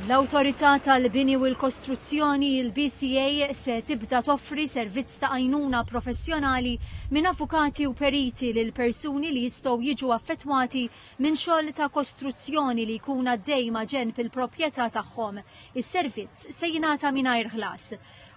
L-Awtorità tal-Bini u l-Kostruzzjoni, il-BCA, se tibda toffri servizz ta' għajnuna professjonali minn avukati u periti lil persuni li jistgħu jiġu affettwati minn xogħol ta' kostruzzjoni li jkun għaddej maġenb il-proprjetà tagħhom. Is-servizz se jingħata mingħajr ħlas.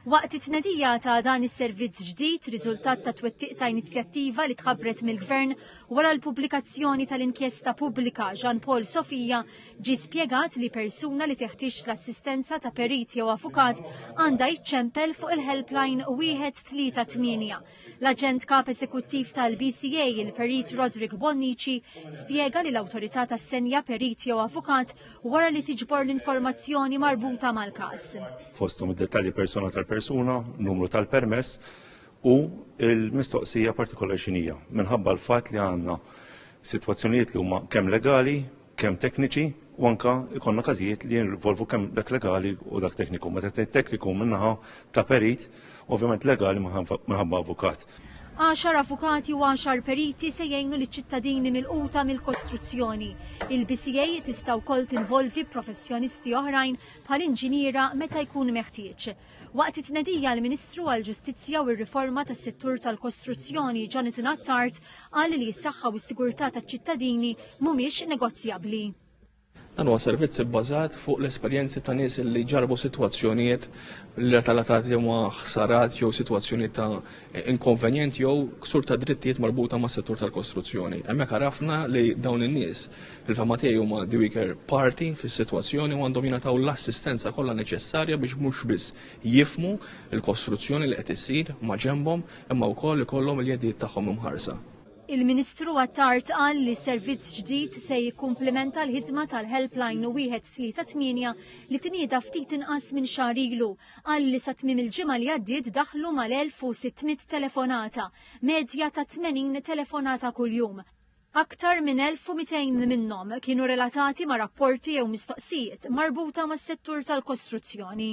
Waqt it-tnedija ta' dan is-servizz ġdid, riżultat tat-twettiq ta' inizjattiva li tħabbret mill-Gvern, Wara l-pubblikazzjoni tal-inkjesta pubblika, Jean Paul Sofia ġie spjegat li persuna li teħtieġ l-assistenza ta' perit jew avukat għandha jiċċempel fuq il-helpline 138. L-aġent kap eżekuttiv tal-BCA, il-perit Roderick Bonnici, spjega li l-awtorità tassenja perit jew avukat wara li tiġbor l-informazzjoni marbuta mal-każ. Fosthom id-dettalji persona tal-persuna, numru tal-permess, U l-mistoqsija partikolari xinija, minħabba l-fatt li għandna sitwazzjonijiet li huma kemm legali, kemm tekniċi, u anka ikonna każijiet li jinvolvu kemm dak legali u dak tekniku. Meta tgħid tekniku minnaħa ta' perit, ovvjament legali minħabba avukat. Għaxar avukati u għaxar periti se jgħinu liċ-ċittadini milquta mill-kostruzzjoni. Il-BCA tista' wkoll tinvolvi professjonisti oħrajn bħal inġiniera meta jkun meħtieġ. Waqt it-tnedija l-Ministru għall-Ġustizzja u r-Riforma tas-Settur tal-Kostruzzjoni Jonathan Attard qal li s-saħħa u s-sigurtà taċ-ċittadini mhumiex negozjabbli. Dan huwa servizz ibbażat fuq l-esperjenzi ta' nies li ġarbu sitwazzjonijiet relatati ma' ħsarat jew sitwazzjoni ta' inkonvenjent jew ksur ta' drittijiet marbuta mas-settur tal-kostruzzjoni. Hemmhekk għarafna li dawn in-nies Fil-fehma tiegħi huma the weaker party fis-sitwazzjoni u għandhom jingħataw l-assistenza kollha neċessarja biex mhux biss jifhmu l-kostruzzjoni li qed issir maġenbhom imma wkoll ikollhom il-jedijiet tagħhom imħarsa. Il-Ministru Attard qal li servizz ġdid se jikkumplimenta l-ħidma tal-Helpline 138 li tnieda ftit inqas minn xahar ilu. Qal li sa tmiem il-ġimgħa li għaddiet daħlu mal-1,600 telefonata, medja ta' 80 telefonata kuljum. Aktar minn 1,200 minnhom kienu relatati ma' rapporti jew mistoqsijiet marbuta mas-settur tal-kostruzzjoni.